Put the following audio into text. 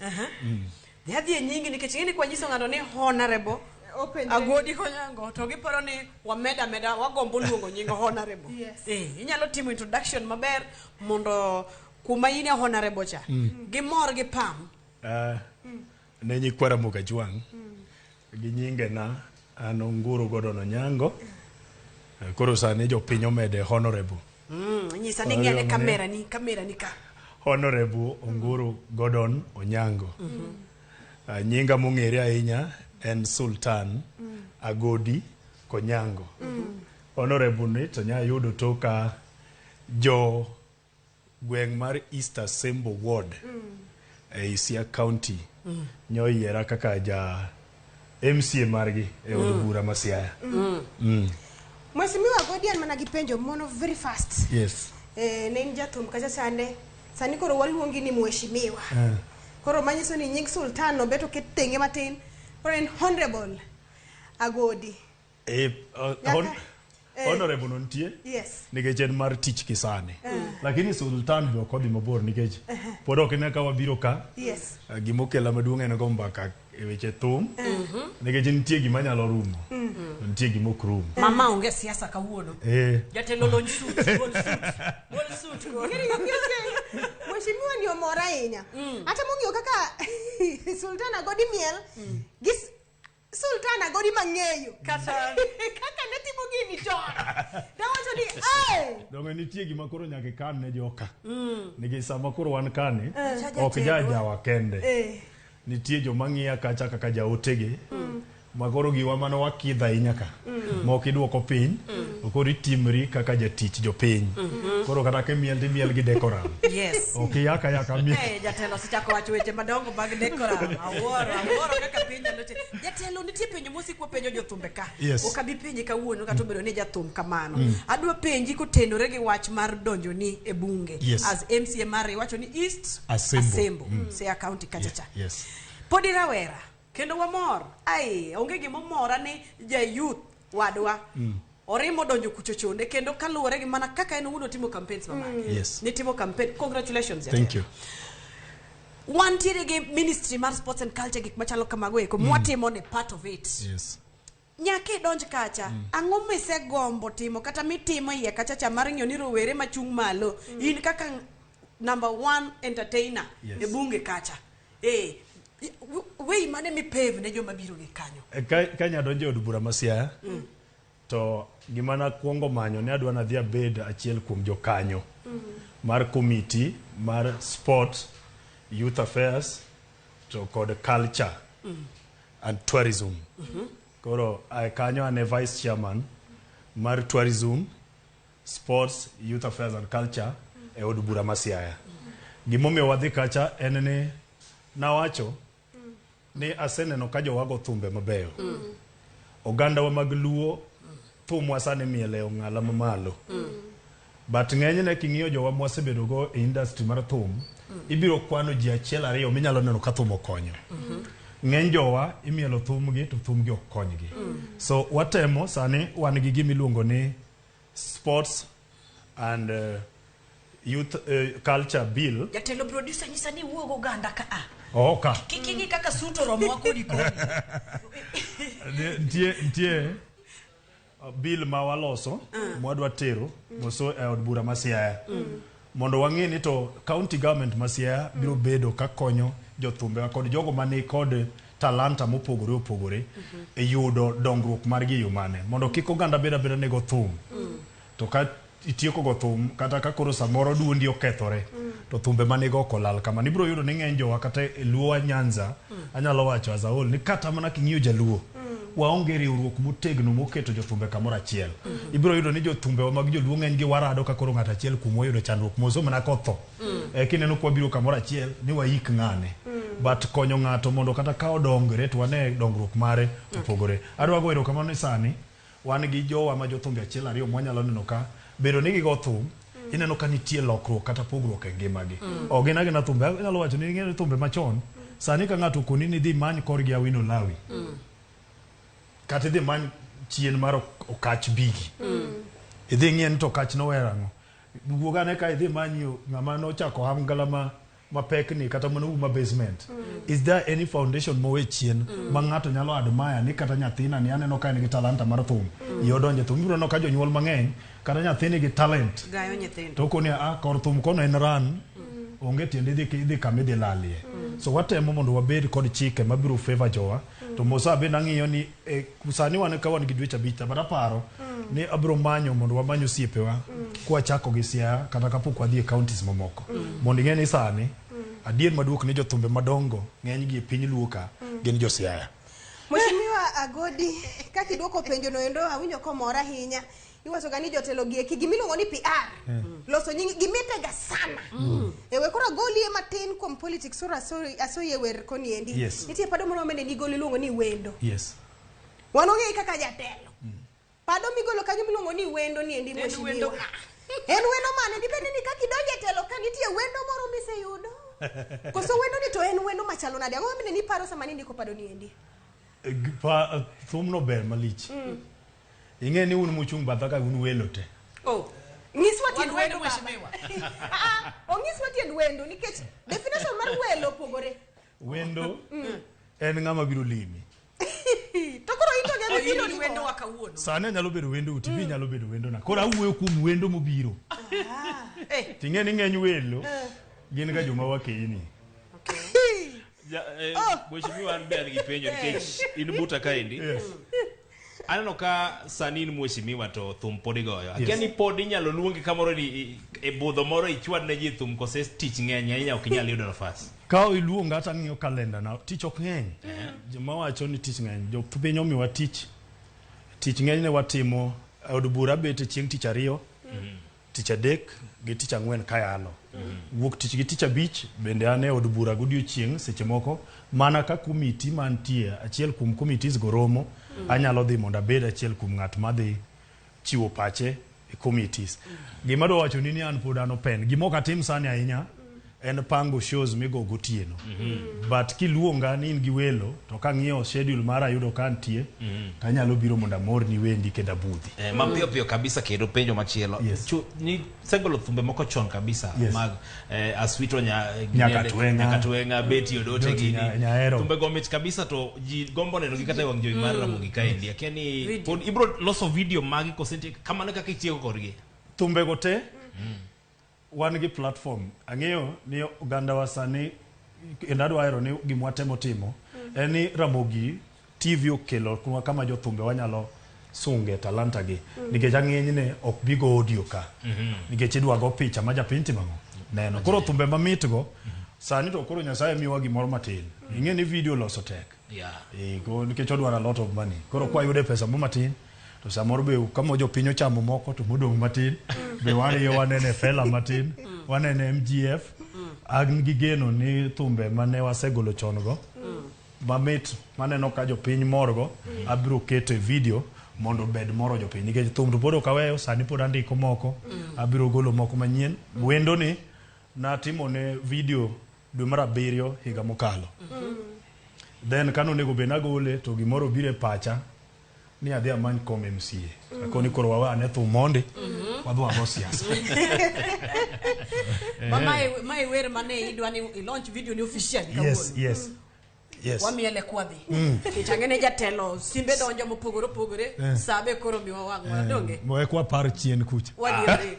Aha. Dhi adhi e nyingi nikech ing'e ni kwanyiso ng'ato ni honorable Openjre. agodi konyango to giparo ni wameda meda wagombo luongo nying honorable Yes. eh, inyalo timo introduction maber mondo kuma in e honorable cha gimor gi pam Ah, ne nyikwa Ramogi Ajwang' Gi nyingena an Onguru Gordon Onyango. Koro sani jopiny omede Honourable. Mm, nyisa ni ng'e ne kamera ni kamera ni ka. Honourable Onguru Gordon Onyango. Mm -hmm. uh, nyinga mong'ere ahinya en Sultan mm. Agodi Konyango. Mm. Honourable ni to nya yudo toka jo Gweng' mar East Asembo Ward ei Siaya County nyo oyiera kaka ja MCA margi e od Mm. bura ma Siaya. Mm. Mheshimiwa Godi an mana gi penjo mono very fast. Yes. Eh, ne in jathum kacha chande. Sani koro waluongi ni mheshimiwa. Eh. Koro manyiso ni nying sultan no beto ket tenge matin. Koro en honorable Agodi. Eh, uh, hon eh. honorable no nitie yes. nikech en mar tich kisani uh. Eh. lakini sultan be ok odhi mabor nikech uh -huh. pod ok ine ka wabiro ka yes. uh, gima okela maduong' en go mbaka e weche thum uh mhm. -huh. nikech nitie gima nyalo rumo uh mhm. -huh. nitie gima ok rum mama onge siasa kawuono eh. jatelo lony suit gol suit gol suit mheshimiwa ni omora ahinya mm. hata mong'iyo kaka sultan agodi miel mm. gis Sultan agori mang'eyo. Kata. Kaka ne timo gini chon. Dawacho ni, "Ai!" Donge nitie gima koro nyaka ikan ne joka. Mm. Nikech sama koro wan kani, Eh. ok jajawa kende. Eh. Nitie joma ng'iya kacha kaka jaotege. Mm. Makoro giwa mane wakidho ahinya ka. Mm. mok iduoko piny mm. koro itimri kaka jatich jopiny mm-hmm. koro kata kimiel timiel gi decoram yes. ok iyaka yaka miel hey, eh, jatelo osechako wacho weche madongo mag decoram awuoro awuoro kaka piny nyalo timo jatelo nitie penjo mosikwa penjo jothumbe ka yes. ok abi penji kawuono kata obedo ni jathum kamano mm. adwa penji kotenore gi wach mar donjo ni e bunge yes. as mcmr iwacho ni east asembo, asembo. Mm. sea county kachacha yes. yes. podi rawera Kendo wamor. Ai, onge gima omora ni ja youth wadwa. Mm. Orimo donjo kucho chonde kendo kaluwore gi mana kaka en owuon otimo campaigns mamake. Mm. Yes. Nitimo campaign. Congratulations. Thank you. Wantiere gi Ministry mar Sports and Culture gik machalo kamago eko. Mm. Mwatimo ni part of it. Yes. Nyaka idonj kacha. Mm. Ang'o misegombo timo kata mitimo iye kacha cha mar ng'iyo ni rowere machung' malo mm. in kaka number one entertainer yes. e bunge kacha. Eh, wei mane mipave ne joma biro gi kanyo. Eh, ka, ka nya donjo od bura masia. Mm. To gima na kuongo manyo ne adwa nadhi abed achiel kuom jokanyo mm. mar committee mar sport, youth affairs to kod culture. Mm. and tourism mm -hmm. koro kanyo ane vice chairman mar tourism sports youth affairs and culture e od bura ma siaya gimomiyo wadhi kacha en ni nawacho ni aseneno ka jowago thumbe mabeyo ogandawa mag luo thumwa sani miel e ong'ala mamalo mm. But ng'enyne king'iyo jowa mwasebedo go e industry mar thum, ibiro kwano ji achiel ariyo minyalo neno ka thum okonyo. Ng'eny jowa imielo thumgi to thumgi ok konygi. So watemo sani wan gi gima iluongo ni sports and eh, youth eh, culture bill. Jatelo producer nyisa ni wuog oganda ka a. Oh, ka. Kik ing'i kaka suit oromowa kodi kodi. Nitie nitie bill ma waloso ma wadwa tero moso e od bura ma Siaya mondo wang'e ni to county government ma Siaya biro bedo ka konyo jothumbewa kod jogo ma ni kod talanta mopogore opogore e yudo dongruok margi e yo mane mondo kik oganda bed abeda ni go thum to ka itieko go thum kata ka koro samoro duondi okethore mm. to thumbe ma nigo ok olal kama nibiro yudo ni ng'eny jowa kata e luowa nyanza mm. anyalo wacho azaol ni kata mana king'iyo jaluo mm. waonge riwruok motegno moketo jothumbe kamoro achiel mm -hmm. ibiro yudo ni jothumbewa mag joluo ng'eny gi warado ka koro ng'ato achiel kuom wayudo chandruok moso mana kotho mm. e, kineno kwa biro kamoro achiel ni wayik ng'ane mm but konyo ng'ato mondo kata ka odongre to wane dongruok mare opogore adwa go erokamano ni sani Wan gi jowa ma jothumbe achiel ariyo ma wanyalo neno ka bedo ni gigo thum, ineno ka nitie lokruok kata pogruok e ngimagi. Ok gin agina thumbe, anyalo wacho ni ing'eyo ni thumbe machon, sani ka ng'ato okoni ni idhi imany korgi Awino Lawi, kata idhi imany chien mar ok- okach bigi, idhi ing'iye ni to okach nower ang'o. Wuog ane ka idhi imany yo ng'ama nochako ohangla ma mapek ni kata mana uma basement is there any foundation mowe chien ma ng'ato nyalo admire ni kata nyathina ni aneno ka en gi talanta mar thum iyo donje thum ibiro neno ka jonyuol mang'eny kata nyathini gi talent Gayo nyithindo. to koni a kor thum kono en ran onge tiende idhi idhi kama idhi lalie so watemo mondo wabed kod chike mabiro favor jowa to mosa bende ang'iyo ni e, sani wan ka wan gi dweche abich but aparo mm. ni abiro manyo mondo wamany osiepewa mm. kwachako gi Siaya kata kapok wadhi e counties mamoko mm. mondo ing'e ni sani mm. adier maduok ni jothumbe madongo ng'eny gi e piny luo ka mm. gin jo Siaya Mheshimiwa Agodi, kaka idwoko penjono endo awinjo komor ahinya. iwacho ga ni jotelo gi eki gimiluongo ni PR mm. loso nyingi gimite ga sana mm. e we kora goli e matin kom politics ora sorry aso ye wer koni endi yes. nitie pado moro mene ni goli luongo ni wendo yes wano ge kaka jatelo mm. pado mi golo kanyo miluongo ni wendo ni endi moshi wendo en wendo mane ndi bende ni kaki donje telo ka nitie wendo moro mise yudo koso wendo ni to en wendo machalo nade ango mene ni paro sama ni ndiko pado ni endi eh, pa eh, thumno ber malich mm. Ing'e ni un muchung' batha ka un welo te. Oh. Nyiswa tiend wendo mheshimiwa. Ah, onyiswa ah, tiend wendo nikech definition mar welo opogore. Wendo mm. en ng'ama biro limi. to koro ito nyalo biro ni wendo wa kawuono. Sani anyalo bedo wendo uti, bi mm. nyalo bedo wendo na. Koro awuoyo kuom wendo mobiro. Ah. Eh. Ting'e ni ng'eny welo eh. gin ga joma wakeyini. Eh, oh. Mheshimiwa an be an gi penjo nikech in buta kaendi. aneno ka sani in mheshimiwa to thum pod igoyo akia Yes. ni pod inyalo luongi kamoro ni i- e budho moro ichwad ne ji thum kose tich ng'eny ahinya ok inyal yudo nafas ka iluonga to ang'iyo kalenda na tich ok ng'eny joma wacho ni tich ng'eny jopiny omiwa tich tich ng'eny ne watimo e od bura bet chieng' tich ariyo Tich adek gi tich ang'wen ka yalo. Wuok tich gi tich abich bende an e od bura godiochieng' seche moko mana ka komiti mantie achiel kuom committees go romo anyalo dhi mondo abed achiel kuom ng'at madhi chiwo pache e committees. Gima adwa wachoni ni an pod an open. Gima ok atim sani ahinya En pango shows migo gotieno. Mm -hmm. But kiluonga ni in gi welo to kang'iyo schedule mara ayudo ka antie mm -hmm. to anyalo biro mondo amorni wendi kendo abudhi. Eh, ma piyo piyo kabisa kendo penjo machielo. Yes. Chu, ni segolo thumbe moko chon kabisa yes. mag eh, Aswito nya, eh, nyaka tuenga nyaka tuenga beti odote gini. Nya, thumbe gomit kabisa to ji gombo neno gi kata wang joi mar mm. ramo gi kaendi. Akiani pod ibro loso video magi kosenti kamano kaka itieko korgi. Thumbe gote. Mm. Wan gi platform. Ang'eyo ni ogandawa sani kendo adwa hero ni gima watemo timo en ni Ramogi TV okelo kunwa kama jothumbe wanyalo sunge talanta gi nikech ang'enyne ok bi go audio ka nikech idwa go picha ma japiny timo ang'o neno koro thumbe mamit go sani to koro Nyasaye miyowa gimoro matin ing'e ni video loso tek Yeah. Eh, ko- nikech odwaro a lot of money koro kwayude pesa mo matin to samoro be kama jopiny ochamo moko to modong' matin be wariyo wanene fela matin wanene mgf an gi geno ni thumbe mane wasegolo chon go mamit maneno ka jopiny morgo abiro keto e video mondo obed moro jopiny nikech thum to pod ok aweyo sani pod andiko moko abiro golo moko manyien wendo ni natimo ne video dwe mar abiriyo higa mokalo then kane onego bed nagole to gimoro obiro e pacha ni adhi amany kom MCA akoni koro wawe ane thum mondi wadhi wago siasa Ma mae mae wer mane idwa ni i launch video ni official yes kawuono. yes yes Wamiele kwadhi. Nikech ang'ene jatelo simbe donjo mopogore opogore. Sabe koro miwa wang'wa donge. moe kwa par chien kucha Wadieri.